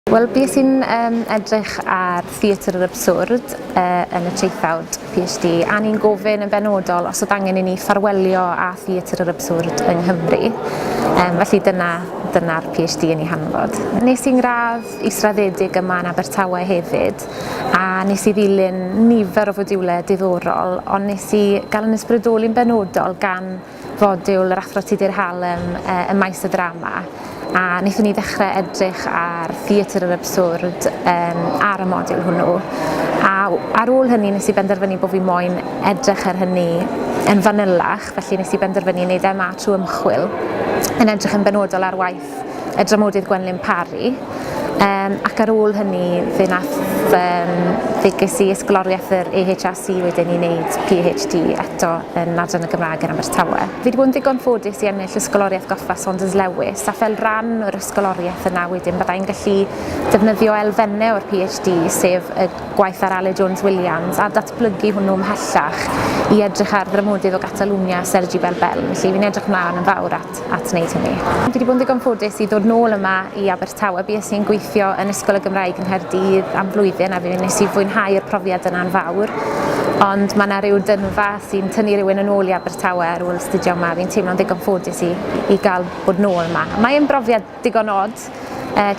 Wel, bues i'n um, edrych ar theatr yr absurd uh, yn y traethawd PhD, a ni'n gofyn yn benodol os oedd angen i ni ffarwelio â theatr yr absurd yng Nghymru. Um, felly dyna dyna'r PhD yn ei hanfod. Nes i'n gradd israddedig yma yn Abertawe hefyd, a nes i ddilyn nifer o fodiwlau diddorol, ond nes i gael yn ysbrydoli'n benodol gan fodiwl yr Athro Tudur Hallam ym maes y ddrama a wnaethon ni ddechrau edrych ar theatr yr absurd um, ar y modiwl hwnnw. A ar ôl hynny nes i benderfynu bod fi moyn edrych ar hynny yn fanylach, felly nes i benderfynu i wneud MA trwy ymchwil yn edrych yn benodol ar waith Griffith, y dramodydd Gwenlyn Parry, um, ac ar ôl hynny fe nath um, fe ges i ysgoloriaeth yr EHRC wedyn i wneud PhD eto yn adran y Gymraeg yn Abertawe. Fi wedi bod yn ddigon ffodus i ennill ysgoloriaeth goffa Saunders Lewis a fel rhan o'r ysgoloriaeth yna wedyn byddai'n gallu defnyddio elfennau o'r PhD sef y gwaith ar Ale Jones Williams a datblygu hwnnw ymhellach i edrych ar ddramodydd o Gatalwnia Sergi Belbel. Felly fi'n edrych mlaen yn fawr at plant at wneud hynny. Dwi wedi bod yn ddigon ffodus i ddod nôl yma i Abertawe. Bues i'n gweithio yn Ysgol y Gymraeg yng Nghaerdydd am flwyddyn a fi nes i fwynhau'r profiad yna'n fawr. Ond mae yna rhyw dynfa sy'n tynnu rhywun yn ôl i Abertawe ar ôl astudio yma. Fi'n teimlo'n ddigon ffodus i i gael bod nôl yma. Mae yn brofiad digon od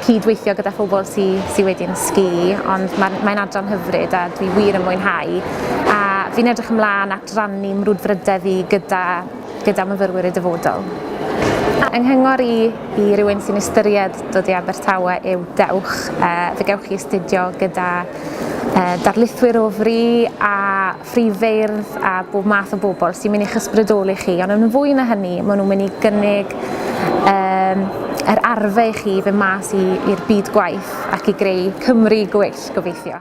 cyd-weithio gyda phobl sydd sy wedi'n sgi, ond mae'n mae adran hyfryd a dwi wir yn mwynhau. A fi'n edrych ymlaen at rannu mrwdfrydedd i gyda, gyda myfyrwyr y dyfodol. Yng nghyngor i i rywun sy'n ystyried dod i Abertawe yw dewch, uh, fe gewch chi astudio gyda uh, darlithwyr o fri a ffrif feirdd a bob math o bobl sy'n mynd i'ch ysbrydoli chi, ond yn fwy na hynny, maen nhw'n mynd i gynnig um, yr arfe i chi fe mas i'r byd gwaith ac i greu Cymru gweill, gobeithio.